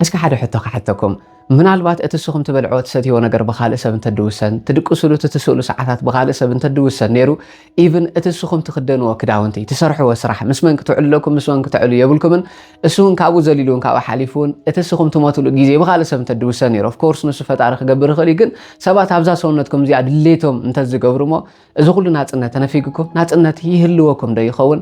እስከ ሓደ ሕቶ ክሓተኩም፣ ምናልባት እቲ እስኹም ትበልዕዎ ትሰትይዎ ነገር ብኻልእ ሰብ እንተድውሰን፣ ትድቅስሉ እቲ ትስእሉ ሰዓታት ብኻልእ ሰብ እንተድውሰን ነይሩ፣ ኢቭን እቲ እስኹም ትኽደንዎ ክዳውንቲ፣ ትሰርሕዎ ስራሕ፣ ምስ መን ክትዕልለኩም ምስ መን ክተዕሉ የብልኩምን፣ እሱውን ካብኡ ዘሊሉውን ካብኡ ሓሊፉውን እቲ እስኹም ትሞትሉ ግዜ ብኻልእ ሰብ እንተድውሰን ነይሩ፣ ኦፍ ኮርስ ንሱ ፈጣሪ ክገብር ይኽእል እዩ፣ ግን ሰባት ኣብዛ ሰውነትኩም እዚኣ ድሌቶም እንተዝገብሩሞ እዚ ኩሉ ናጽነት ተነፊግኩም ናጽነት ይህልወኩምዶ ይኸውን?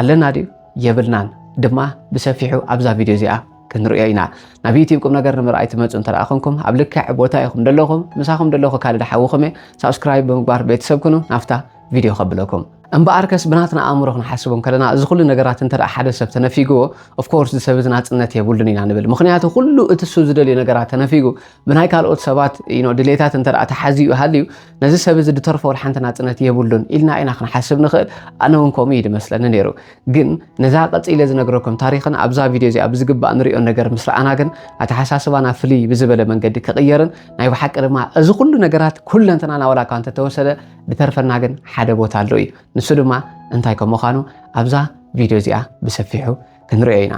ኣለና ድዩ የብልናን ድማ ብሰፊሑ ኣብዛ ቪድዮ እዚኣ ክንሪኦ ኢና ናብ ዩቲብ ቁም ነገር ንምርኣይ ትመፁ እንተ ኮንኩም ኣብ ልክዕ ቦታ ኢኹም ደለኹም ምሳኹም ደለኹ ካልድ ሓውኹም እየ ሳብስክራይብ ብምግባር ቤተሰብ ኩኑ ናብታ ቪድዮ ከብለኩም እምበኣር ከስ ብናትና ኣእምሮ ክንሓስቡ ከለና እዚ ኩሉ ነገራት እንተ ሓደ ሰብ ተነፊግዎ ኦፍኮርስ እዚ ሰብ እዚ ናፅነት የብሉን ኢና ንብል ምክንያቱ ኩሉ እቲ ሱ ዝደልዩ ነገራት ተነፊጉ ብናይ ካልኦት ሰባት ድሌታት እንተ ተሓዚኡ ሃልዩ ነዚ ሰብ እዚ ድተርፎ ወላ ሓንቲ ናጽነት የብሉን ኢልና ኢና ክንሓስብ ንኽእል ኣነ እውን ከምኡ እዩ ድመስለኒ ነይሩ ግን ነዛ ቀጺለ ዝነግረኩም ታሪኽን ኣብዛ ቪድዮ እዚኣ ብዝግባእ ንሪኦ ነገር ምስ ረኣና ግን ኣተሓሳስባና ፍልይ ብዝበለ መንገዲ ክቕየርን ናይ ብሓቂ ድማ እዚ ኩሉ ነገራት ኩለንትናና ወላ እኳ እንተተወሰደ ድተርፈና ግን ሓደ ቦታ ኣሎ እዩ ንሱ ድማ እንታይ ከም ምዃኑ ኣብዛ ቪድዮ እዚኣ ብሰፊሑ ክንሪኦ ኢና።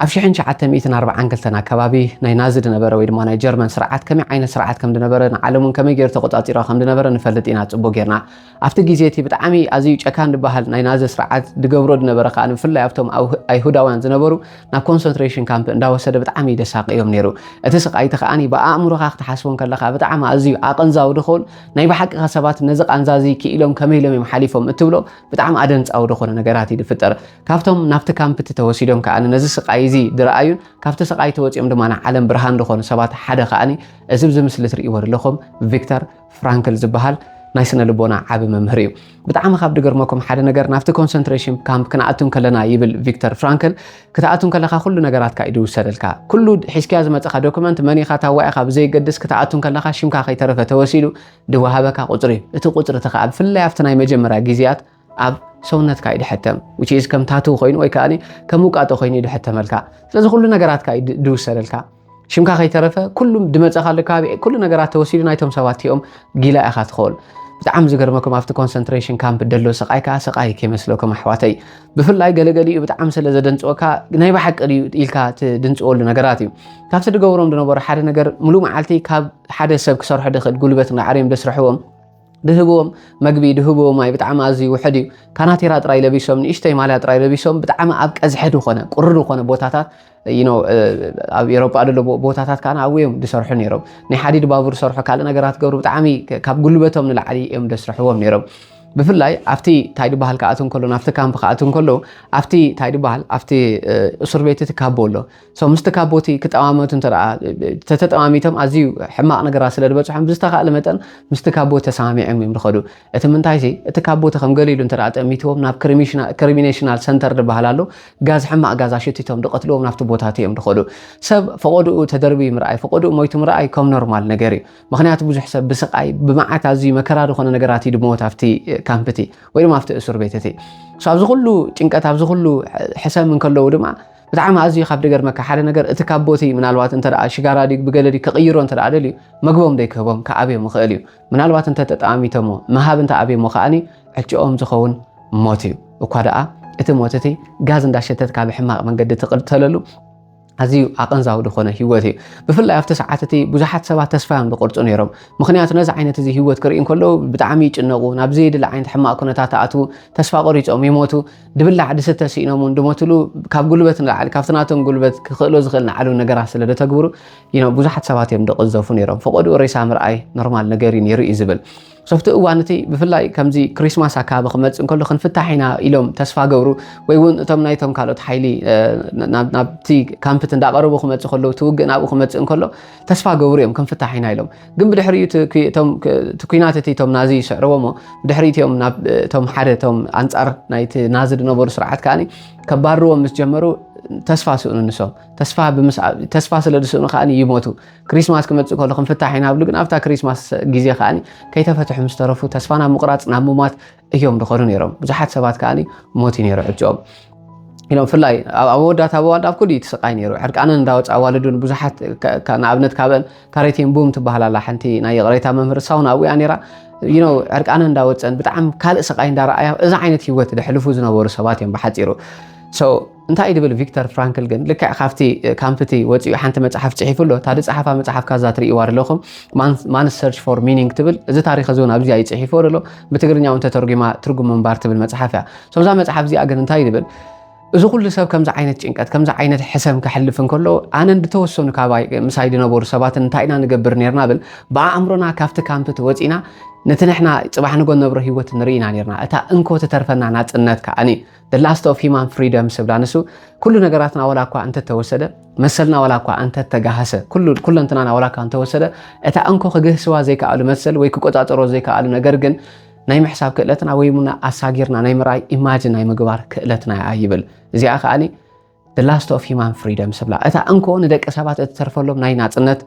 ኣብ ሽሕን ትሽዓተ ሚእትን ኣርብዓን ክልተን ኣከባቢ ናይ ናዚ ድነበረ ወይ ድማ ናይ ጀርመን ስርዓት ከመይ ዓይነት ስርዓት ከም ድነበረ ንዓለም እውን ከመይ ገይሩ ተቆጻጺራ ከም ድነበረ ንፈልጥ ኢና ጽቡቅ ጌርና። ኣብቲ ግዜ እቲ ብጣዕሚ ኣዝዩ ጨካን ድበሃል ናይ ናዚ ስርዓት ድገብሮ ድነበረ ከኣ ብፍላይ ኣብቶም ኣይሁዳውያን ዝነበሩ ናብ ኮንሰንትሬሽን ካምፕ እንዳወሰደ ብጣዕሚ ደሳቅዮም ነይሩ። እቲ ስቃይ እቲ ከኣ ብኣእምሮኻ ክትሓስቦ ከለኻ ብጣዕሚ ኣዝዩ ኣቀንዛዊ ድኸውን ናይ ብሓቂኻ ሰባት ነዚ ቃንዛ እዚ ክኢሎም ከመይ ኢሎም እዮም ሓሊፎም እትብሎ ብጣዕሚ ኣደንጻዊ ድኾነ ነገራት እዩ ድፍጠር። ካብቶም ናብቲ ካምፕቲ ተወሲዶም ከኣ ነዚ ስቃይ እዚ ድረኣዩን ካብቲ ስቃይ ተወፂኦም ድማ ንዓለም ብርሃን ድኾኑ ሰባት ሓደ ከኣ እዚ ኣብዚ ምስሊ ትርእይዎ ዘለኹም ቪክተር ፍራንክል ዝበሃል ናይ ስነ ልቦና ዓቢ መምህር እዩ ብጣዕሚ ካብ ድገርመኩም ሓደ ነገር ናብቲ ኮንሰንትሬሽን ካምፕ ክንኣቱ ከለና ይብል ቪክተር ፍራንክል ክትኣቱ ከለካ ኩሉ ነገራትካ እዩ ድውሰደልካ ኩሉ ሒዝካያ ዝመፀኻ ዶክመንት መን ኢኻ ታዋይ ኢኻ ብዘይገድስ ክትኣቱ ከለካ ሽምካ ከይተረፈ ተወሲዱ ድወሃበካ ቁፅሪ እዩ እቲ ቁፅሪ እቲ ከዓ ብፍላይ ኣብቲ ናይ መጀመርያ ግዜያት ኣብ ሰውነትካ እዩ ድሕተም which is ከም ታቱ ኮይኑ ወይ ከኣ ከም ውቃጦ ኮይኑ እዩ ድሕተመልካ ስለዚ ኩሉ ነገራትካ እዩ ድውሰደልካ ሽምካ ከይተረፈ ኩሉም ድመጸኻሉ ከባቢ ኩሉ ነገራት ተወሲዱ ናይቶም ሰባት እቲኦም ጊላ ኢኻ ትኸውን ብጣዕሚ ዝገርመኩም ኣብቲ ኮንሰንትሬሽን ካምፕ ደሎ ስቃይ ከዓ ስቃይ ከይመስለኩም ኣሕዋተይ ብፍላይ ገለገሊኡ ብጣዕሚ ስለ ዘደንፅወካ ናይ ብሓቂ ድዩ ኢልካ ትድንፅወሉ ነገራት እዩ ካብቲ ድገብሮም ዝነበሩ ሓደ ነገር ሙሉእ መዓልቲ ካብ ሓደ ሰብ ክሰርሖ ድኽእል ጉልበት ንዓርዮም ደስርሕዎም ድህብዎም መግቢ ድህብዎ ማይ ብጣዕሚ ኣዝዩ ውሕድ እዩ ካናቴራ ጥራይ ለቢሶም ንእሽተይ ማልያ ጥራይ ለቢሶም ብጣዕሚ ኣብ ቀዝሐ ዝኾነ ቁሪ ዝኾነ ቦታታት ይኖ ኣብ ኤሮጳ ደሎ ቦታታት ካዓ ኣብኡ እዮም ዝሰርሑ ነይሮም ናይ ሓዲድ ባቡር ሰርሑ ካልእ ነገራት ገብሩ ብጣዕሚ ካብ ጉልበቶም ንላዕሊ እዮም ደስርሕዎም ነይሮም ብፍላይ ኣብቲ እንታይ ድበሃል ክኣት እንከሎ ናብቲ ካምፕ ክኣት እንከሎ ኣብቲ እንታይ ድበሃል ኣብቲ እሱር ቤት እቲ ካቦ ኣሎ So ምስቲ ካቦቲ ክጠማመቱ እንተ ተተጠማሚቶም ኣዝዩ ሕማቕ ነገራት ስለ ዝበፅሖም ብዝተኻእለ መጠን ምስቲ ካቦቲ ተሰማሚዖም እዮም ዝኸዱ እቲ ምንታይ ሲ እቲ ካቦቲ ከም ገሊሉ እንተ ጠሚትዎም ናብ ክሪሚኔሽናል ሰንተር ዝበሃል ኣሎ ጋዝ ሕማቕ ጋዝ ኣሸቲቶም ድቐትልዎም ናብቲ ቦታት እዮም ዝኸዱ ሰብ ፈቐድኡ ተደርብዩ ምርኣይ ፈቐድኡ ሞይቱ ምርኣይ ከም ኖርማል ነገር እዩ ምክንያቱ ብዙሕ ሰብ ብስቃይ ብመዓት ኣዝዩ መከራ ዝኾነ ነገራት እዩ ድመወት ኣብቲ ካምፕ እቲ ወይ ድማ ኣብቲ እሱር ቤት እቲ ኣብዚ ኩሉ ጭንቀት ኣብዚ ኩሉ ሕሰም እንከለዉ ድማ ብጣዕሚ ኣዝዩ ካብ ድገርመካ ሓደ ነገር እቲ ካብ ቦቲ ምናልባት እንተ ሽጋራ ድዩ ብገለ ድዩ ክቕይሮ እንተ ደልዩ መግቦም ደይክህቦም ክኣብዮም ይኽእል እዩ ምናልባት እንተ ተጠማሚቶሞ ምሃብ እንተ ኣብዮሞ ከዓኒ ዕጭኦም ዝኸውን ሞት እዩ እኳ ደኣ እቲ ሞት እቲ ጋዝ እንዳሸተትካ ብሕማቕ መንገዲ ትቕተለሉ ኣዝዩ ኣቐንዛዊ ዝኾነ ህይወት እዩ ብፍላይ ኣብቲ ሰዓት እቲ ብዙሓት ሰባት ተስፋ እዮም ዝቆርፁ ነይሮም ምክንያቱ ነዚ ዓይነት እዚ ህይወት ክርኢ እንከለዉ ብጣዕሚ ይጭነቑ ናብ ዘየድሊ ዓይነት ሕማቕ ኩነታት ኣትዉ ተስፋ ቆሪፆም ይሞቱ ድብላዕ ድስተ ስኢኖም እውን ድሞትሉ ካብ ጉልበት ንላዕሊ ካብቲ ናቶም ጉልበት ክኽእሎ ዝኽእል ንዓሉ ነገራት ስለ ደተግብሩ ብዙሓት ሰባት እዮም ደቕዘፉ ነይሮም ፈቐድኡ ሬሳ ምርኣይ ኖርማል ነገር እዩ ነይሩ እዩ ዝብል ሶፍቲ እዋን እቲ ብፍላይ ከምዚ ክሪስማስ ኣካባቢ ክመፅእ እንከሎ ክንፍታሕ ኢና ኢሎም ተስፋ ገብሩ ወይ እውን እቶም ናይቶም ካልኦት ሓይሊ ናብቲ ካምፕት እንዳቐረቡ ክመፅእ ከለዉ ትውግእ ናብኡ ክመፅእ እንከሎ ተስፋ ገብሩ እዮም ክንፍታሕ ኢና ኢሎም ግን ብድሕሪኡ እቲ ኩናት እቲ እቶም ናዚ ይስዕርዎሞ ብድሕሪት እዮም ናብቶም ሓደ እቶም ኣንፃር ናይቲ ናዚ ዝነበሩ ስርዓት ከዓ ከባርዎም ምስ ጀመሩ ተስፋ ስእኑ ንሶም ተስፋ ስለ ዝስእኑ ከዓ ይሞቱ ክሪስማስ ክመፅእ ከሎ ክንፍታሕ ኢና ብሉ ግን ኣብታ ክሪስማስ ግዜ ከዓ ከይተፈትሑ ምስ ተረፉ ተስፋ ናብ ምቁራፅ ናብ ምሟት እዮም ድኸዱ ነይሮም ብዙሓት ሰባት ከዓ ሞት እዩ ነይሩ ዕጭኦም ኢሎም ብፍላይ ኣብ መወዳእታ ኣዋልድ ኣብ ኩሉ እቲ ስቃይ ነይሩ ዕርቃነን እንዳወፅ ኣዋልዱን ብዙሓት ንኣብነት ካብአን ካሬቴን ቡም ትበሃል ኣላ ሓንቲ ናይ ይቕሬታ መምህር እሳውን ኣብኡ እያ ነይራ ይኖ ዕርቃነን እንዳወፀን ብጣዕሚ ካልእ ስቃይ እንዳረኣያ እዚ ዓይነት ሂወት ዘሕልፉ ዝነበሩ ሰባት እዮም ብሓፂሩ እንታይ ድብል ቪክተር ፍራንክል ግን ልክዕ ካብቲ ካምፕቲ ወፂኡ ሓንቲ መፅሓፍ ፅሒፉ ኣሎ እታ ድፀሓፋ መፅሓፍ ካዛ ትርእይዋ ደለኹም ማን ሰርች ፎር ሚኒንግ ትብል እዚ ታሪክ እዚ እውን ኣብዚ እዩ ፅሒፍዎ ደሎ ብትግርኛ እውን ተተርጒማ ትርጉም ምንባር ትብል መፅሓፍ እያ ሰብዛ መፅሓፍ እዚኣ ግን እንታይ ድብል እዚ ኩሉ ሰብ ከምዚ ዓይነት ጭንቀት ከምዚ ዓይነት ሕሰም ክሕልፍ እንከሎ ኣነን ዝተወሰኑ ካብ ምሳይ ዝነበሩ ሰባትን እንታይ ኢና ንገብር ነርና ብል ብኣእምሮና ካብቲ ካምፕት ወፂና ነቲ ንሕና ፅባሕ ንጎ ነብሮ ሂወት ንርኢና ነርና እታ እንኮ ትተርፈና ናፅነት ከዓኒ The Last of Human Freedom ስብላ ንሱ ኩሉ ነገራትና ወላ እኳ እንተተወሰደ መሰልና ወላ እኳ እንተተጋሃሰ ኩለንትናና ወላ እኳ እንተወሰደ እታ እንኮ ክግህስዋ ዘይከኣሉ መሰል ወይ ክቆፃፀሮ ዘይከኣሉ ነገር ግን ናይ ምሕሳብ ክእለትና ወይ ሙና ኣሳጊርና ናይ ምርኣይ ኢማጅን ናይ ምግባር ክእለትና እያ ይብል እዚኣ ከዓኒ the last of human freedom ስብላ እታ እንኮ ንደቂ ሰባት እትተርፈሎም ናይ ናፅነት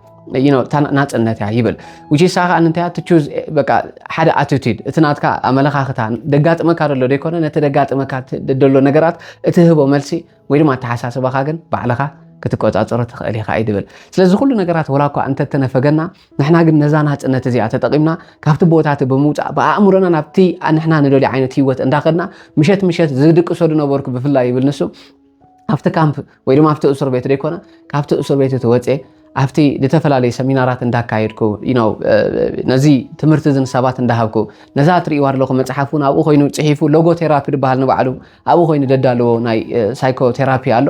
ናፅነት እያ ይብል ውሽሳ ከዓ እንታይ እያ ትቹዝ በቃ ሓደ ኣቲቱድ እቲ ናትካ ኣመለኻኽታ ደጋጥመካ ደሎ ዘይኮነ ነቲ ደጋጥመካ ደሎ ነገራት እትህቦ መልሲ ወይ ድማ ኣተሓሳስባኻ ግን ባዕልኻ ክትቆፃፀሮ ትኽእል ኢኻ እዩ ድብል ስለዚ ኩሉ ነገራት ወላ እኳ እንተተነፈገና ንሕና ግን ነዛ ናጽነት እዚኣ ተጠቒምና ካብቲ ቦታ እቲ ብምውፃእ ብኣእምሮና ናብቲ ንሕና ንደልዮ ዓይነት ህይወት እንዳኸድና ምሸት ምሸት ዝድቅሶ ዝነበርኩ ብፍላይ ይብል ንሱ ኣብቲ ካምፕ ወይ ድማ ኣብቲ እሱር ቤት ዘይኮነ ካብቲ እሱር ቤት እቲ ወፅኤ ኣብቲ ዝተፈላለዩ ሰሚናራት እንዳካየድኩ ነው ነዚ ትምህርቲ እዚ ንሰባት እንዳሃብኩ ነዛ እትርእይዋ ኣለኹ መፅሓፍ እውን ኣብኡ ኮይኑ ፅሒፉ ሎጎ ቴራፒ ዝበሃል ንባዕሉ ኣብኡ ኮይኑ ደዳለዎ ናይ ሳይኮ ቴራፒ ኣሎ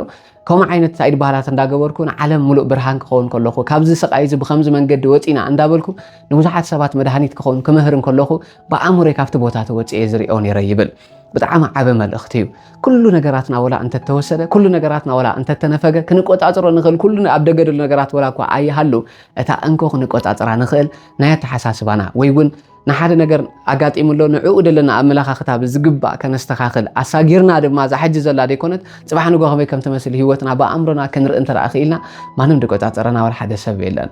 ከምኡ ዓይነት ሳይድ ባህላት እንዳገበርኩ ንዓለም ሙሉእ ብርሃን ክኸውን ከለኹ ካብዚ ስቃይ እዚ ብከምዚ መንገዲ ወፂና እንዳበልኩ ንብዙሓት ሰባት መድሃኒት ክኸውን ክምህር እንከለኹ ብኣእምሮይ ካብቲ ቦታ ተወፅኤ ዝሪኦ ነይረ ይብል ብጣዕሚ ዓበ መልእኽቲ እዩ ኩሉ ነገራትና ወላ እንተተወሰደ ኩሉ ነገራትና ወላ እንተተነፈገ ክንቆፃፅሮ ንኽእል ኩሉ ኣብ ደገ ደሉ ነገራት ወላ እኳ ኣይሃሉ እታ እንኮ ክንቆፃፅራ ንኽእል ናይ ኣተሓሳስባና ወይ እውን ንሓደ ነገር ኣጋጢሙ ኣሎ ንዕኡ ዘለና ኣመለኻኽታ ብዝግባእ ከነስተኻኽል ኣሳጊርና ድማ እዛ ሕጂ ዘላ ዘይኮነት ፅባሕ ንጎ ከመይ ከም ትመስል ሂወትና ብኣእምሮና ክንርኢ እንተደኣ ክኢልና ማንም ድቆፃፀረና ዋላ ሓደ ሰብ የለን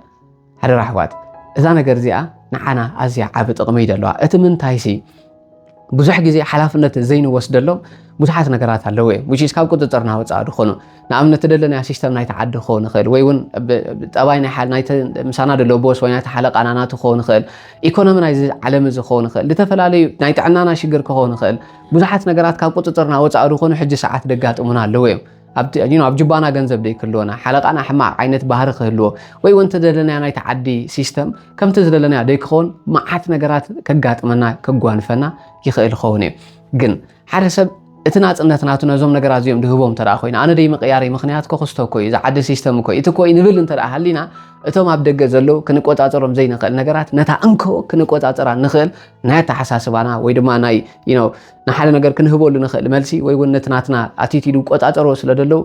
ሓደራ ኣሕዋት እዛ ነገር እዚኣ ንዓና ኣዝያ ዓቢ ጥቕሚ እዩ ዘለዋ እቲ ምንታይሲ ብዙሕ ግዜ ሓላፍነት ዘይንወስደሎም ብዙሓት ነገራት ኣለዉ እዮም which is ካብ ቁፅፅርና ወፃኢ ዝኾኑ ንኣብነት ደለናዮ ሲስተም ናይቲ ዓዲ ክኸውን ይኽእል ወይ እውን ጠባይ ናይቲ ምሳና ደሎ ቦስ ወይ ናይቲ ሓለቃና ናቱ ክኸውን ይኽእል ኢኮኖሚ ናይዚ ዓለም እዚ ክኸውን ይኽእል ዝተፈላለዩ ናይ ጥዕናና ሽግር ክኸውን ይኽእል ብዙሓት ነገራት ካብ ቁፅፅርና ወፃኢ ዝኾኑ ሕጂ ሰዓት ደጋጥሙና ኣለዉ እዮም ኣብ ጁባና ገንዘብ ደይክህልወና ሓለቓና ሕማቕ ዓይነት ባህሪ ክህልዎ ወይ እውን ተደለናዮ ናይቲ ዓዲ ሲስተም ከምቲ ዝደለናዮ ደይክኸውን መዓት ነገራት ከጋጥመና ከጓንፈና ይኽእል ይኸውን እዩ ግን ሓደ ሰብ እቲ ናፅነት ናቱ ነዞም ነገራት እዚኦም ድህቦም እንተ ኮይኑ ኣነ ደይ ምቅያሪ ምክንያት ኮክስቶ እኮ እዩ ዝዓዲ ሲስተም እኮ እቲ ኮይ ንብል እንተ ሃሊና እቶም ኣብ ደገ ዘለዉ ክንቆፃፀሮም ዘይንኽእል ነገራት ነታ እንኮ ክንቆፃፀራ ንኽእል ናይ ኣተሓሳስባና ወይ ድማ ናይ ንሓደ ነገር ክንህበሉ ንኽእል መልሲ ወይ እውን ነቲ ናትና ኣቲቲዱ ቆፃፀሮ ስለ ደለው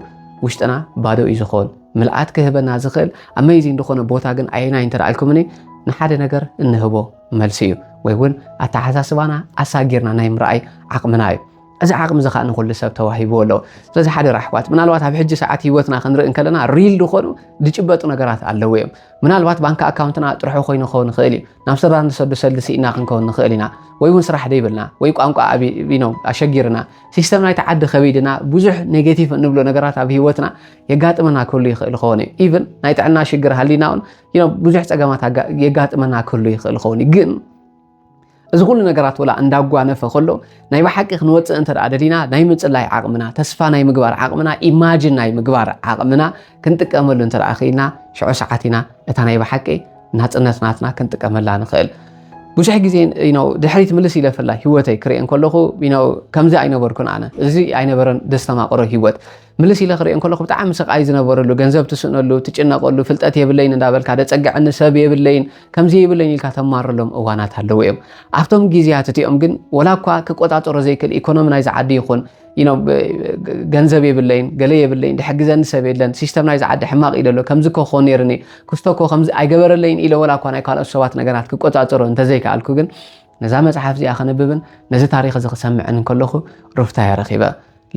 ውሽጥና ባዶ እዩ ዝኾን ምልኣት ክህበና ዝኽእል ኣመይዚን ዝኾነ ቦታ ግን ኣየናይ እንተደኣልኩምኒ ንሓደ ነገር እንህቦ መልሲ እዩ ወይ እውን ኣተሓሳስባና ኣሳጊርና ናይ ምርኣይ ዓቕምና እዩ እዚ ዓቕሚ እዚ ከዓ ንኩሉ ሰብ ተዋሂብዎ ኣሎ ስለዚ ሓደ ራሕዋት ምናልባት ኣብ ሕጂ ሰዓት ሂወትና ክንርኢ እንከለና ሪል ዝኾኑ ዝጭበጡ ነገራት ኣለዉ እዮም ምናልባት ባንኪ ኣካውንትና ጥርሑ ኮይኑ ክኸውን ይኽእል እዩ ናብ ስድራ ንሰዱ ሰልዲ ስኢና ክንከውን ንኽእል ኢና ወይ እውን ስራሕ ደይብልና ወይ ቋንቋ ኣቢኖ ኣሸጊርና ሲስተም ናይቲ ዓዲ ከቢድና ብዙሕ ኔጌቲቭ እንብሎ ነገራት ኣብ ሂወትና የጋጥመና ክህሉ ይኽእል ይኸውን እዩ ኢቨን ናይ ጥዕና ሽግር ሃሊና እውን ብዙሕ ፀገማት የጋጥመና ክህሉ ይኽእል ይኸውን እዩ ግን እዚ ኩሉ ነገራት ወላ እንዳጓነፈ ከሎ ናይ ብሓቂ ክንወፅእ እንተ ደሊና ናይ ምፅላይ ዓቕምና ተስፋ ናይ ምግባር ዓቕምና ኢማጅን ናይ ምግባር ዓቕምና ክንጥቀመሉ እንተ ክኢልና ሽዑ ሰዓት ኢና እታ ናይ ብሓቂ ናፅነት ናትና ክንጥቀመላ ንኽእል ብዙሕ ግዜ ነው ድሕሪት ምልስ ኢለ ፍላይ ሂወተይ ክርኤን ከለኹ ነው ከምዚ ኣይነበርኩን ኣነ እዚ ኣይነበረን ደስተማቕሮ ሂወት ምልስ ኢለ ክርእዮ ከለኹ ብጣዕሚ ስቃይ ዝነበረሉ ገንዘብ ትስእነሉ ትጭነቀሉ ፍልጠት የብለይን እንዳበልካ ደፀግዐኒ ሰብ የብለይን ከምዚ የብለይን ኢልካ ተማረሎም እዋናት ኣለዉ እዮም ኣብቶም ግዜያት እቲኦም ግን ወላ እኳ ክቆፃፀሮ ዘይክእል ኢኮኖሚ ናይዚ ዓዲ ይኹን ገንዘብ የብለይን ገለ የብለይን ድሕግዘኒ ሰብ የለን ሲስተም ናይዚ ዓዲ ሕማቅ እዩ ደሎ ከምዚ ኮ ክኾን ነይርኒ ክስቶ ኮ ከምዚ ኣይገበረለይን ኢለ ወላ እኳ ናይ ካልኦት ሰባት ነገራት ክቆፃፀሮ እንተዘይከኣልኩ ግን ነዛ መፅሓፍ እዚኣ ከንብብን ነዚ ታሪክ እዚ ክሰምዕን ከለኹ ሩፍታ የረኪበ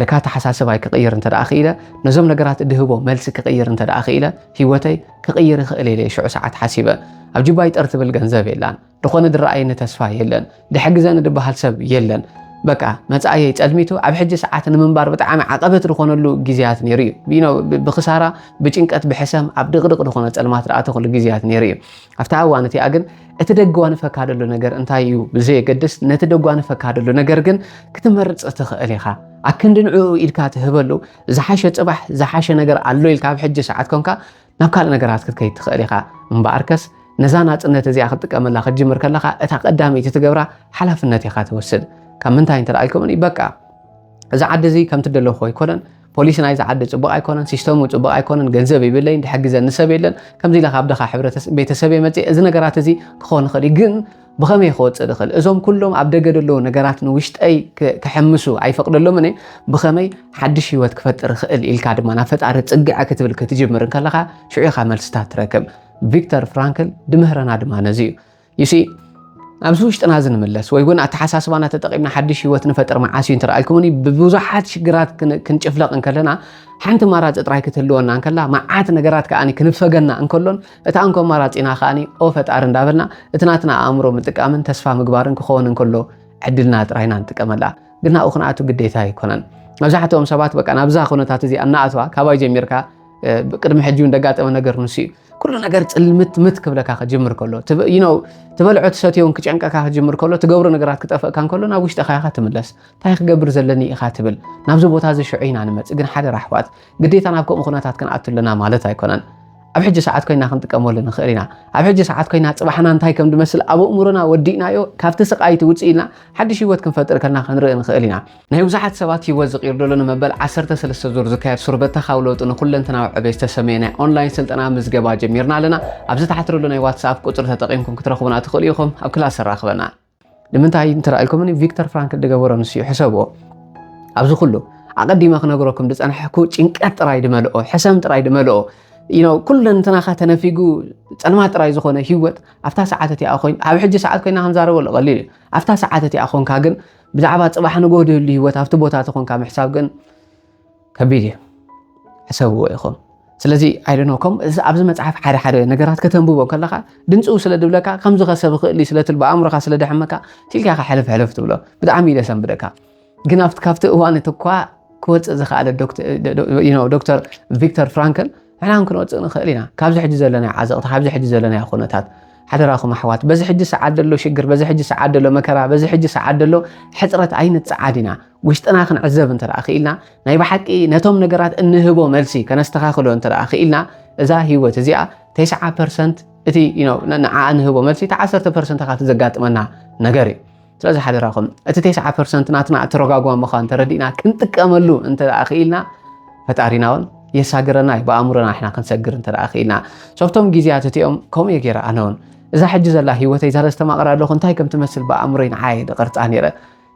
ለካ ኣተሓሳስባይ ክቕይር እንተ ክኢለ፣ ነዞም ነገራት ድህቦ መልሲ ክቕይር እንተ ክኢለ፣ ህይወተይ ክቕይር ይኽእል ኢለ ሽዑ ሰዓት ሓሲበ። ኣብ ጅባይ ጠር ትብል ገንዘብ የላን፣ ድኾነ ድረኣየኒ ተስፋ የለን፣ ድሕግዘኒ ድበሃል ሰብ የለን። በቃ መጻእየይ ጸልሚቱ ኣብ ሕጂ ሰዓት ንምንባር ብጣዕሚ ዓቐበት ዝኾነሉ ግዜያት ነይሩ እዩ ብክሳራ ብጭንቀት ብሕሰም ኣብ ድቕድቕ ዝኾነ ጸልማት ዝኣተኹሉ ግዜያት ነይሩ እዩ ኣብታ እዋን እቲኣ ግን እቲ ደጓንፈካ ደሎ ነገር እንታይ እዩ ብዘየገድስ ነቲ ደጓንፈካ ደሎ ነገር ግን ክትመርፅ ትኽእል ኢኻ ኣክንዲ ንዕኡ ኢድካ ትህበሉ ዝሓሸ ፅባሕ ዝሓሸ ነገር ኣሎ ኢልካ ኣብ ሕጂ ሰዓት ኮንካ ናብ ካልእ ነገራት ክትከይድ ትኽእል ኢኻ እምበኣርከስ ነዛ ናፅነት እዚኣ ክትጥቀመላ ክትጅምር ከለኻ እታ ቀዳመይቲ ትገብራ ሓላፍነት ኢኻ ትወስድ ካብ ምንታይ እንተደኣ ኢልኩምኒ በቃ እዚ ዓዲ እዚ ከምቲ ደለኹ ኣይኮነን ፖሊሲ ናይዛ ዓዲ ፅቡቕ ኣይኮነን፣ ሲስተሙ ፅቡቕ ኣይኮነን፣ ገንዘብ ይብለይን፣ ዝሕግዘኒ ሰብ የለን፣ ከምዚ ኢለ ካብ ድኻ ቤተሰብየ መፅየ፣ እዚ ነገራት እዚ ክኾን ይኽእል እዩ ግን ብኸመይ ክወፅእ ድኽእል እዞም ኩሎም ኣብ ደገ ደለዉ ነገራት ንውሽጠይ ክሕምሱ ኣይፈቅደሎምን እየ ብኸመይ ሓድሽ ህይወት ክፈጥር ይኽእል ኢልካ ድማ ናብ ፈጣሪ ፅግዐ ክትብል ክትጅምር እንከለኻ ሽዑ ኢኻ መልስታት ትረክብ ቪክተር ፍራንክል ድምህረና ድማ ነዚ እዩ ዩሲ ኣብዚ ውሽጥና እዚ ንምለስ ወይ እውን ኣተሓሳስባና ተጠቒምና ሓድሽ ህይወት ንፈጥር መዓስ እዩ እንተረኣልኩምኒ ብብዙሓት ሽግራት ክንጭፍለቕ እንከለና ሓንቲ ኣማራፂ ጥራይ ክትህልወና እንከላ መዓት ነገራት ከዓኒ ክንፈገና እንከሎን እታ እንኮ ኣማራፂና ከዓኒ ኦ ፈጣሪ እንዳበልና እቲ ናትና ኣእምሮ ምጥቃምን ተስፋ ምግባርን ክኸውን እንከሎ ዕድልና ጥራይና ንጥቀመላ ግና ኡ ክንኣቱ ግዴታ ኣይኮነን መብዛሕትኦም ሰባት በቃ ናብዛ ኩነታት እዚ ኣናኣትዋ ካባይ ጀሚርካ ቅድሚ ሕጂ እውን ደጋጠመ ነገር ንሱ እዩ ኩሉ ነገር ፅልምት ምት ክብለካ ክጅምር ከሎ ትበልዖ ትሰትዮ እውን ክጨንቀካ ክጅምር ከሎ ትገብሮ ነገራት ክጠፍእካ ከሎ ናብ ውሽጢ ካያካ ትምለስ እንታይ ክገብር ዘለኒ ኢኻ ትብል ናብዚ ቦታ እዚ ሽዑ ኢና ንመፅእ ግን ሓደ ራሕዋት ግዴታ ናብ ከምኡ ኩነታት ክንኣቱ ኣለና ማለት ኣይኮነን ኣብ ሕጂ ሰዓት ኮይና ክንጥቀመሉ ንኽእል ኢና ኣብ ሕጂ ሰዓት ኮይና ፅባሕና እንታይ ከም ዝመስል ኣብ እእምሮና ወዲእናዮ ካብቲ ስቃይቲ ውፅእ ኢልና ሓድሽ ሂወት ክንፈጥር ከልና ክንርኢ ንኽእል ኢና ናይ ብዙሓት ሰባት ህይወት ዝቕይር ዘሎ ንመበል ዓሰርተ ሰለስተ ዙር ዝካየድ ሱር በተኻዊ ለውጢ ንኩለንተናዊ ዕቤት ዝተሰመየ ናይ ኦንላይን ስልጠና ምዝገባ ጀሚርና ኣለና። ኣብዚ ታሕቲ ዘሎ ናይ ዋትስኣፕ ቁጽሪ ተጠቒምኩም ክትረኽቡና ትኽእሉ ኢኹም። ኣብ ክላስ ኣራኽበና። ንምንታይ እንተራኢልኩምኒ ቪክተር ፍራንክል ዝገበሮ ንስዩ ሕሰብዎ ኣብዚ ኩሉ ኣቐዲመ ክነግረኩም ዝጸናሕኩ ጭንቀት ጥራይ ድመልኦ ሕሰም ጥራይ ድመልኦ ኩለንትናኻ ተነፊጉ ጸልማት ጥራይ ዝኾነ ህይወት ኣብታ ሰዓት እቲኣ ኮይን ኣብ ሕጂ ሰዓት ኮይና ክንዛረበሉ ቀሊል እዩ ኣብታ ሰዓት እቲኣ ኮንካ ግን ብዛዕባ ፅባሕ ንጎ ድህሉ ህይወት ኣብቲ ቦታ ተኾንካ ምሕሳብ ግን ከቢድ እዩ ሕሰብዎ ኢኹም ስለዚ ኣይደኖ ከም ኣብዚ መፅሓፍ ሓደ ሓደ ነገራት ከተንብቦ ከለካ ድምፅው ስለ ድብለካ ከምዚ ከሰብ ይኽእል እዩ ስለትል ብኣእምሮካ ስለ ደሕመካ ቲልካ ካ ሕልፍ ሕልፍ ትብሎ ብጣዕሚ እዩ ደሰንብደካ ግን ኣብቲ ካብቲ እዋን እቲ እኳ ክወፅእ ዝኸኣለ ዶክተር ቪክተር ፍራንክል ንሕና እውን ክንወፅእ ንኽእል ኢና ካብዚ ሕጂ ዘለናዮ ዓዘቕቲ ካብዚ ሕጂ ዘለናዮ ኩነታት ሓደራኹም ኣሕዋት በዚ ሕጂ ሰዓት ዘሎ ሽግር በዚ ሕጂ ሰዓት ዘሎ መከራ በዚ ሕጂ ሰዓት ዘሎ ሕፅረት ኣይንፀዓድ ኢና ውሽጥና ክንዕዘብ እንተ ክኢልና ናይ ብሓቂ ነቶም ነገራት እንህቦ መልሲ ከነስተኻኽሎ እንተ ክኢልና እዛ ህይወት እዚኣ ተስዓ ፐርሰንት እቲ ንዓ እንህቦ መልሲ እቲ ዓሰርተ ፐርሰንት ካብቲ ዘጋጥመና ነገር እዩ ስለዚ ሓደራኹም እቲ ቴስዓ ፐርሰንት ናትና እተረጓጓ ምዃን ተረዲእና ክንጥቀመሉ እንተ ክኢልና ፈጣሪና እውን የሳግረና እዩ ብኣእምሮና ሕና ክንሰግር እንተ ክኢልና ሶብቶም ግዜያት እቲኦም ከምኡ እየ ገይረ ኣነ እውን እዛ ሕጂ ዘላ ሂወተይ ዛለ ዝተማቕረ ኣለኹ እንታይ ከም ትመስል ብኣእምሮይ ንዓየ ድቐርፃ ነይረ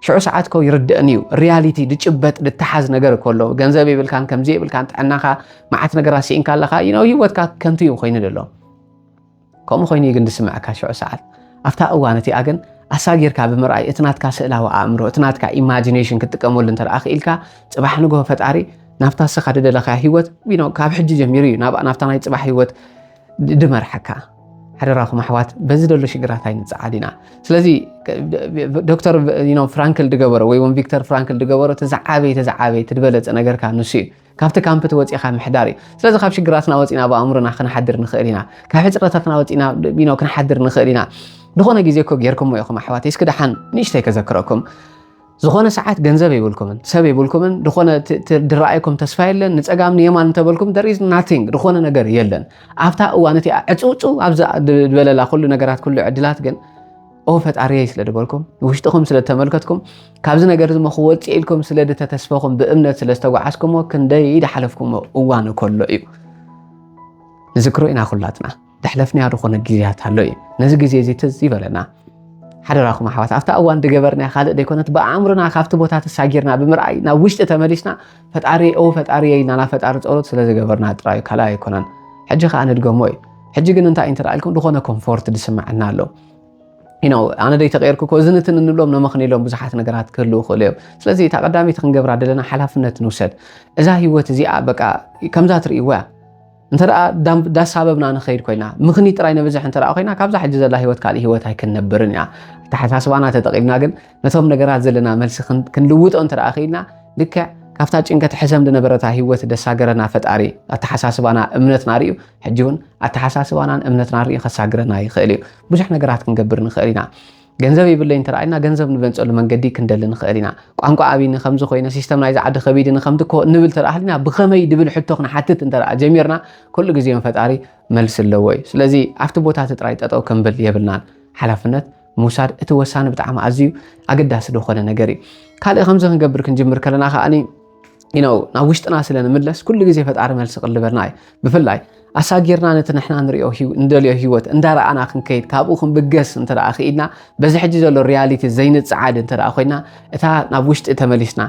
ሽዑ ሰዓት ኮ ይርድእን እዩ ሪያሊቲ ድጭበጥ ድተሓዝ ነገር እኮ ኣሎ ገንዘብ የብልካን ከምዚ የብልካን ጥዕናኻ መዓት ነገራት ስኢንካ ኣለኻ ዩ ሂወትካ ከንቱ እዩ ኮይኑ ዘሎ ከምኡ ኮይኑ እዩ ግን ዝስምዐካ ሽዑ ሰዓት። ኣብታ እዋን እቲኣ ግን ኣሳጊርካ ብምርኣይ እቲ ናትካ ስእላዊ ኣእምሮ፣ እቲ ናትካ ኢማጂነሽን ክትጥቀመሉ እንተ ክኢልካ ጽባሕ ንግሆ ፈጣሪ ናብታ ንስኻ ዝደለኻያ ህይወት ዊኖ ካብ ሕጂ ጀሚሩ እዩ ናብኣ ናብታ ናይ ጽባሕ ህይወት ድመርሓካ። ሓደራኹም ኣሕዋት በዚ ዘሎ ሽግራት ኣይንፀዓድ ኢና ስለዚ ዶክተር ፍራንክል ድገበሮ ወይ እውን ቪክተር ፍራንክል ድገበሮ እቲ ዝዓበየ እቲ ዝዓበየ እቲ ዝበለፀ ነገርካ ንሱ እዩ ካብቲ ካምፕ ተወጺኻ ምሕዳር እዩ። ስለዚ ካብ ሽግራትና ወጺና ኣብ ኣእምሮና ክንሓድር ንኽእል ኢና። ካብ ሕጽረታትና ወጺና ቢኖ ክንሓድር ንኽእል ኢና። ዝኾነ ግዜ እኮ ጌርኩሞ ኢኹም ኣሕዋተይ እስኪ ደሓን ንእሽተይ ከዘክረኩም ዝኾነ ሰዓት ገንዘብ የብልኩምን ሰብ የብልኩምን ዝኾነ ድረኣይኩም ተስፋ የለን ንፀጋም ንየማን እንተበልኩም ደር ኢዝ ናቲንግ ዝኾነ ነገር የለን ኣብታ እዋን እቲኣ ዕፅውፅው ኣብዛ ዝበለላ ኩሉ ነገራት ኩሉ ዕድላት ግን ኦ ፈጣሪየይ ስለ ድበልኩም ንውሽጥኹም ስለ ተመልከትኩም ካብዚ ነገር ዝሞ ክወፅእ ኢልኩም ስለ ድተተስፈኹም ብእምነት ስለ ዝተጓዓዝኩሞ ክንደይ ድሓለፍኩሞ እዋን ከሎ እዩ ንዝክሮ ኢና ኩላትና ድሕለፍናዮ ዝኾነ ግዜያት ኣሎ እዩ ነዚ ግዜ እዚ ትዝ ይበለና ሓደራኹም ኣሕዋት ኣብታ እዋን ድገበርና ካልእ ደይኮነት ብኣእምሮና ካብቲ ቦታ ተሳጊርና ብምርኣይ ናብ ውሽጢ ተመሊስና ፈጣሪ ኦ ፈጣሪ ኢልና ናብ ፈጣሪ ፀሎት ስለ ዝገበርና ጥራዩ ካልእ ኣይኮነን ሕጂ ከዓ ንድገሞ እዩ ሕጂ ግን እንታይ እንተደኣ ኢልኩም ዝኾነ ኮምፎርት ድስምዐና ኣሎ ኢናው ኣነ ደይ ተቀየርኩ እኮ እዝን እትን እንብሎም ነመኽንሎም ብዙሓት ነገራት ክህልው ክእሉ እዮም ስለዚ እታ ቀዳሚት ክንገብራ ደለና ሓላፍነት ንውሰድ እዛ ህይወት እዚኣ በቃ ከምዛ ትርእይዎ እያ እንተ ዳሳበብና ንኸይድ ኮይና ምኽኒ ጥራይ ነብዝሕ እንተ ኮይና ካብዛ ሕጂ ዘላ ሂወት ካልእ ሂወት ኣይክንነብርን እያ ኣተሓሳስባና ተጠቒምና ግን ነቶም ነገራት ዘለና መልሲ ክንልውጦ እንተ ክኢልና ልክዕ ካብታ ጭንቀት ሕሰም ዝነበረታ ሂወት ደሳገረና ፈጣሪ ኣተሓሳስባና እምነትና ርዩ ሕጂ እውን ኣተሓሳስባናን እምነትናን ርኢ ከሳግረና ይኽእል እዩ። ብዙሕ ነገራት ክንገብር ንኽእል ኢና። ገንዘብ ይብለይ እንተ ኢልና ገንዘብ ንበንጸሉ መንገዲ ክንደሊ ንኽእል ኢና። ቋንቋ ኣብይኒ ከምዚ ኮይነ ሲስተም ናይዚ ዓዲ ከቢድኒ ከምቲ እኮ ንብል ተደኣ ሃሊና ብኸመይ ድብል ሕቶ ክንሓትት እንተ ጀሚርና ኩሉ ግዜ ፈጣሪ መልሲ ኣለዎ እዩ። ስለዚ ኣብቲ ቦታ እቲ ጥራይ ጠጠው ክንብል የብልናን። ሓላፍነት ምውሳድ እቲ ወሳኒ ብጣዕሚ ኣዝዩ ኣገዳሲ ዝኾነ ነገር እዩ። ካልእ ከምዚ ክንገብር ክንጅምር ከለና ከኣ ነው ናብ ውሽጥና ስለ ንምለስ ኩሉ ግዜ ፈጣሪ መልሲ ቅልበልና እዩ ብፍላይ ኣሳጊርና ነቲ ንሕና ንሪኦ እንደልዮ ሂወት እንዳረኣና ክንከይድ ካብኡ ክንብገስ እንተ ክኢድና በዚ ሕጂ ዘሎ ሪያሊቲ ዘይንፅዓድ እንተ ኮይና እታ ናብ ውሽጢ ተመሊስና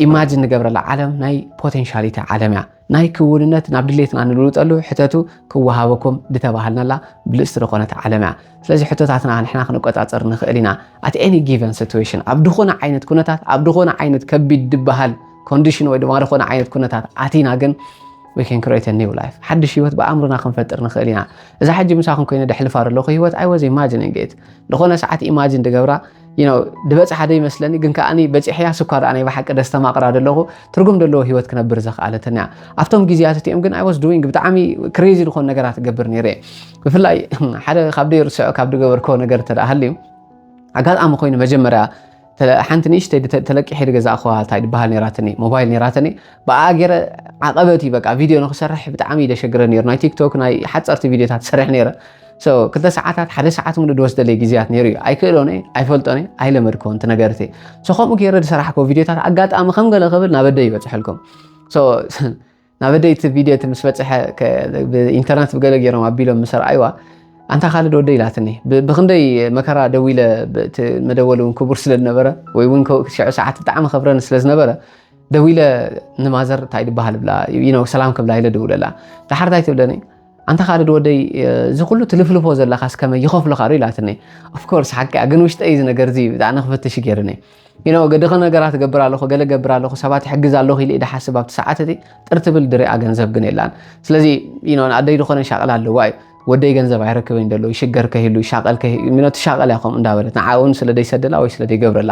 ኢማጅን ንገብረላ ዓለም ናይ ፖቴንሻሊቲ ዓለም እያ ናይ ክውንነት ናብ ድሌትና ንልውጠሉ ሕተቱ ክወሃበኩም ድተባሃልናላ ብልጽቲ ዝኾነት ዓለም እያ ስለዚ ሕቶታትና ንሕና ክንቆጻጸር ንኽእል ኢና ኣት ኤኒ ጊቨን ሲትዌሽን ኣብ ድኾነ ዓይነት ኩነታት ኣብ ድኾነ ዓይነት ከቢድ ድበሃል ኮንዲሽን ወይ ድማ ድኾነ ዓይነት ኩነታት ኣቲና ግን we can create a new life ሓድሽ ህይወት ብኣእምሮና ክንፈጥር ንኽእል ኢና እዛ ሕጂ ምሳኹም ኮይነ ደሕልፋ ዘለኹ ህይወት ኣይ ወዝ ኢማጂኒንግ ኢት ዝኾነ ሰዓት ኢማጂን ድገብራ ድበፅሓ ዶ ይመስለኒ ግን ከዓ በፂሐያ ስኳ ድኣ ናይ ብሓቂ ደስተማቕራ ደለኹ ትርጉም ደለዎ ሂወት ክነብር ዘኽኣለተኒ እያ ኣብቶም ግዜያት እቲኦም ግን ኣይወስ ዱዊንግ ብጣዕሚ ክሬዚ ዝኾኑ ነገራት ገብር ነይረ ብፍላይ ሓደ ካብ ደይ ርስዖ ካብ ድገበርኮ ነገር እንተ ሃልዩ ኣጋጣሚ ኮይኑ መጀመርያ ሓንቲ ንእሽተይ ተለቂሐ ድገዛ እኹዋ እንታይ ድበሃል ነራትኒ ሞባይል ነራትኒ ብኣ ገይረ ዓቐበት እዩ በቃ ቪድዮ ንክሰርሕ ብጣዕሚ ደሸግረ ነይሩ ናይ ቲክቶክ ናይ ሓፀርቲ ቪድዮታት ሰርሕ ነይረ ክልተ ሰዓታት ሓደ ሰዓት ሙሉ ዝወስደለይ ግዜያት ነይሩ እዩ ኣይክእሎን እየ ኣይፈልጦን እየ ኣይለመድኮን እቲ ነገር እቲ ከምኡ ገይረ ዝሰራሕኮ ቪድዮታት ኣጋጣሚ ከም ገለ ክብል ናብ ኣደይ ይበፅሐልኩም ናብ ኣደይ እቲ ቪድዮ እቲ ምስ በፅሐ ኢንተርነት ብገለ ገይሮም ኣቢሎም ምስ ረኣይዋ ኣንታ ካልድ ወደ ኢላትኒ ብክንደይ መከራ ደው ኢለ መደወሊ እውን ክቡር ስለ ዝነበረ ወይ እውን ሽዑ ሰዓት ብጣዕሚ ከብረኒ ስለ ዝነበረ ደው ኢለ ንማዘር እንታይ ድበሃል ብላ ሰላም ክብላ ኢለ ደውለላ ዳሓር እንታይ ትብለኒ ኣንታ ካልድ ወደይ እዚ ኩሉ ትልፍልፎ ዘለካስ ከመይ ይኸፍሉካ ዶ ኢላትኒ ኦፍ ኮርስ ሓቂ እያ ግን ውሽጠይ እዚ ነገር እዚ ብጣዕሚ ክፈትሽ እዩ ገይሩኒ you know ገደኸ ነገራት ገብር ኣለኹ ገለ ገብር ኣለኹ ሰባት ይሕግዝ ኣለኹ ኢለ ኢደ ሓስብ ኣብቲ ሰዓት እቲ ጥር ትብል ድሪኣ ገንዘብ ግን የላን ስለዚ you know ንኣደይ ዝኾነ ሻቕል ኣለዋ እዩ ወደይ ገንዘብ ኣይረክበኝ ደሎ ይሽገር ከሂሉ ይሻቐል ከሂሉ ትሻቐል እያ ከምኡ እንዳበለት ንዓ እውን ስለ ደይሰደላ ወይ ስለ ደይገብረላ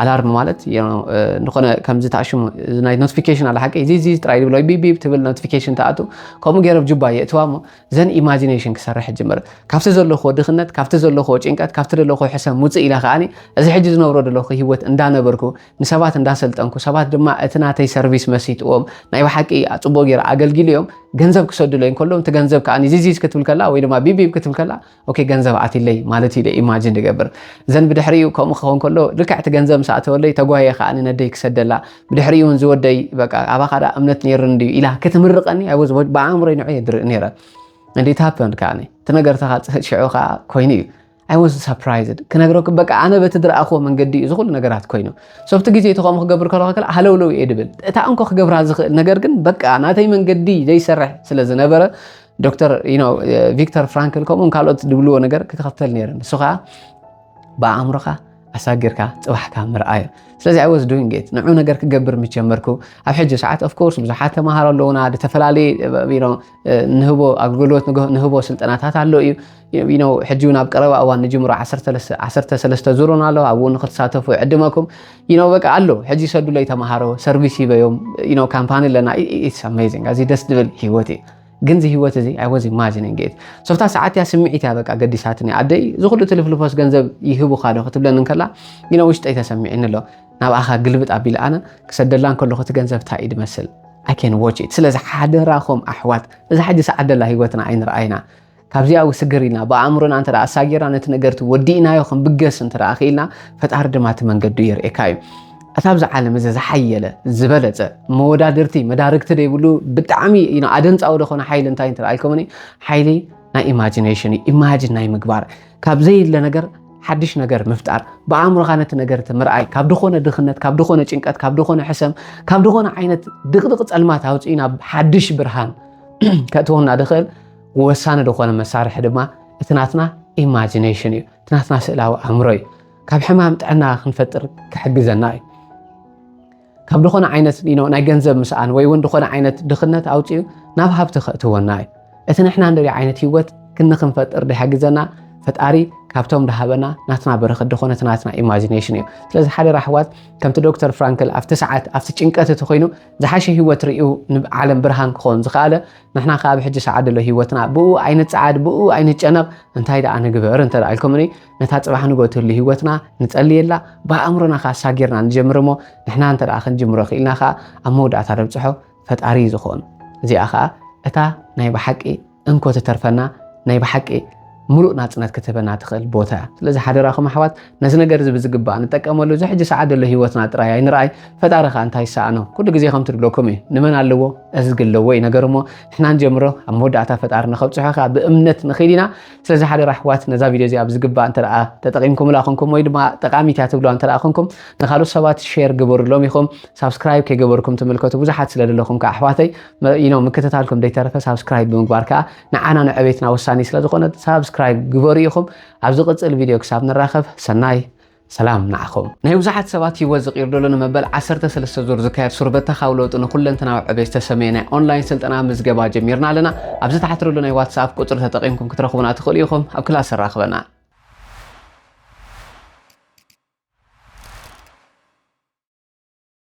ኣላርም ማለት ዝኾነ ከምዚ ተኣሽሙ ናይ ኖቲፊኬሽን ኣለ ሓቂ እዚ ጥራይ ዝብሎ ቢቢብ ትብል ኖቲፊኬሽን ተኣቱ ከምኡ ገይሮም ጁባ የእትዋ እሞ ዘን ኢማጂኔሽን ክሰርሕ ጅምር ካብቲ ዘለኹዎ ድኽነት ካብቲ ዘለኹዎ ጭንቀት ካብቲ ዘለኹዎ ሕሰም ውፅእ ኢለ ከዓኒ እዚ ሕጂ ዝነብሮ ዘለኹ ሂወት እንዳነበርኩ ንሰባት እንዳሰልጠንኩ ሰባት ድማ እቲ ናተይ ሰርቪስ መሲጥዎም ናይ ብሓቂ ፅቡቅ ገይረ ኣገልጊሉ እዮም ገንዘብ ክሰድለይ ከሎም እቲ ገንዘብ ከዓኒ ዚዚዝ ክትብል ከላ ወይ ድማ ቢቢብ ክትብል ከላ ኦኬ ገንዘብ ኣትይለይ ማለት እዩ ኢለ ኢማጅን ዝገብር ዘን ብድሕሪኡ ከምኡ ክኸውን ከሎ ልክዕ እቲ ገንዘብ ምስ ኣተወለይ ተጓየ ከዓ ነደይ ክሰደላ ብድሕሪኡ እውን ዝወደይ በቃ ኣባኻ ደኣ እምነት ነይርኒ እንድዩ ኢላ ክትምርቐኒ ኣይ ወዝ ብኣእምሮይ ንዑ የድርኢ ነይረ and it happened ከዓ እቲ ነገር ተኻፅህት ሽዑ ከዓ ኮይኑ እዩ ኣይ ወዝ ሰርፕራይዝድ ክነግረኩም በቃ ኣነ በቲ ድረኣኽዎ መንገዲ እዩ ዝኹሉ ነገራት ኮይኑ ሶብቲ ግዜ እቲ ከምኡ ክገብር ከለኹ ከላ ሃለውለው እየ ድብል እታ እንኮ ክገብራ ዝኽእል ነገር ግን በቃ ናተይ መንገዲ ዘይሰርሕ ስለ ዝነበረ ዶክተር ቪክተር ፍራንክል ከምኡውን ካልኦት ዝብልዎ ነገር ክትኸፍተል ነይረ ንሱ ከዓ ብኣእምሮኻ ኣሳጊርካ ፅባሕካ ምርኣዩ ስለዚ ኣይ ወዝ ዱንግ ት ንዑ ነገር ክገብር ምስ ጀመርኩ ኣብ ሕጂ ሰዓት ኦፍኮርስ ብዙሓት ተምሃሮ ኣለውና ዝተፈላለየ ንህቦ ኣገልግሎት ንህቦ ስልጠናታት ኣሎ እዩ ሕጂ እውን ኣብ ቀረባ እዋን ንጅምሮ ዓሰርተ ሰለስተ ዙሩን ኣሎ ኣብኡ ንክትሳተፉ ዕድመኩም ይነው በቃ ኣሎ ሕጂ ሰዱለይ ተምሃሮ ሰርቪስ ይበዮም ይነው ካምፓኒ ኣለና ኢትስ ኣሜዚንግ ኣዚ ደስ ዝብል ህይወት እዩ ግን እዚ ህይወት እዚ ኣይ ዋዝ ኢማጂኒንግ ኢት ሶፍታ ሰዓት እያ ስምዒት እያ በቃ ገዲሳትኒ ኣደይ እዚ ኩሉ ትልፍልፎስ ገንዘብ ይህቡካ ዶ ክትብለኒ እንከላ ይነ ውሽጠይ ተሰሚዕኒ ኣሎ ናብኣኻ ግልብጥ ኣቢለ ኣነ ክሰደላ እንከለኹ እቲ ገንዘብ እንታይ እዩ ድመስል ኣይ ኬን ዎች ኢት ስለዚ ሓደራኹም ኣሕዋት እዛ ሕጂ ሰዓት ደላ ህይወትና ኣይንርኣይና ካብዚኣ ውስግር ኢልና ብኣእምሮና እንተ ኣሳጊርና ነቲ ነገርቲ ወዲእናዮ ክንብገስ እንተ ክኢልና ፈጣሪ ድማ እቲ መንገዱ የርእካ እዩ እታ ብዛ ዓለም እዚ ዝሓየለ ዝበለፀ መወዳድርቲ መዳርግቲ ዘይብሉ ብጣዕሚ ኣደንፃዊ ዝኾነ ሓይሊ እንታይ እንተልኣልኩምኒ ሓይሊ ናይ ኢማጂኔሽን እዩ ኢማጂን ናይ ምግባር ካብ ዘይለ ነገር ሓድሽ ነገር ምፍጣር ብኣእምሮኻ ነቲ ነገርቲ ምርኣይ ካብ ድኾነ ድኽነት ካብ ድኾነ ጭንቀት ካብ ድኾነ ሕሰም ካብ ድኾነ ዓይነት ድቕድቕ ፀልማት ኣውፅኢና ሓድሽ ብርሃን ከእትወና ድኽእል ወሳኒ ዝኾነ መሳርሒ ድማ እቲ ናትና ኢማጂኔሽን እዩ፣ እቲ ናትና ስእላዊ ኣእምሮ እዩ። ካብ ሕማም ጥዕና ክንፈጥር ክሕግዘና እዩ። ካብ ዝኾነ ዓይነት ናይ ገንዘብ ምስኣን ወይ እውን ዝኾነ ዓይነት ድኽነት ኣውፅኡ ናብ ሃብቲ ከእትወና እዩ እቲ ንሕና ንሪኦ ዓይነት ሂወት ክኒ ክንፈጥር ድሕግዘና ፈጣሪ ካብቶም ድሃበና ናትና በረኸት ድኾነ እቲ ናትና ኢማጂኔሽን እዩ ስለዚ ሓደ ራሕዋት ከምቲ ዶክተር ፍራንክል ኣብቲ ሰዓት ኣብቲ ጭንቀት እቲ ኮይኑ ዝሓሸ ሂወት ርእዩ ንዓለም ብርሃን ክኸውን ዝኸኣለ ንሕና ከኣ ብሕጂ ሰዓት ደሎ ህይወትና ብኡ ኣይንጸዓድ ብኡ ኣይንጨነቕ እንታይ ደኣ ንግበር እንተ ደኣ ኢልኩምኒ ነታ ጽባሕ ንግሆ ትህሉ ህይወትና ንጸልየላ ብኣእምሮና ከኣ ሳጊርና ንጀምር እሞ ንሕና እንተ ደኣ ክንጅምሮ ክኢልና ከኣ ኣብ መወዳእታ ነብጽሖ ፈጣሪ እዩ ዝኾን እዚኣ ከኣ እታ ናይ ብሓቂ እንኮ ትተርፈና ናይ ብሓቂ ምሉእ ናጽነት ክትህበና ትኽእል ቦታ እያ። ስለዚ ሓደራኹም ኣሕዋት ነዚ ነገር እዚ ብዝግባእ ንጠቀመሉ። እዚ ሕጂ ሰዓት ዘሎ ህይወትና ጥራይ ኣይንርኣይ፣ ፈጣሪ ከኣ እንታይ ይሰኣኖ? ኩሉ ግዜ ከምቲ ዝብለኩም እዩ፣ ንመን ኣለዎ እዝጊ ኣለዎ እዩ ነገሩ እሞ ንሕና ንጀምሮ ኣብ መወዳእታ ፈጣሪ ንኸብጽሖ ከኣ ብእምነት ንኺድ ኢና። ስለዚ ሓደራ ኣሕዋት ነዛ ቪድዮ እዚኣ ብዝግባእ እንተ ተጠቒምኩምላ ኹንኩም ወይ ድማ ጠቃሚት እያ ትብልዋ እንተ ኹንኩም ንኻልኦት ሰባት ሼር ግበሩሎም ኢኹም። ሳብስክራይብ ከይገበርኩም ትምልከቱ ብዙሓት ስለ ዘለኹም ከኣ ኣሕዋተይ ምክትታልኩም ደይተረፈ ሳብስክራይብ ብምግባር ከኣ ንዓና ንዕቤትና ወሳኒ ስለ ዝኾነ ሳብስክራይብ ግበሩ ኢኹም ኣብ ዝቕጽል ቪድዮ ክሳብ ንራኸብ ሰናይ ሰላም ንዓኹም ናይ ብዙሓት ሰባት ህይወት ዝቕይር ደሎ ንመበል 13 ዙር ዝካየድ ሱር በተኻዊ ለውጢ ንኩለንተናዊ ዕቤት ዝተሰመየ ናይ ኦንላይን ስልጠና ምዝገባ ጀሚርና ኣለና ኣብዚ ታሕቲ ዘሎ ናይ ዋትስኣፕ ቁፅሪ ተጠቒምኩም ክትረኽቡና ትኽእሉ ኢኹም ኣብ ክላስ ኣራኽበና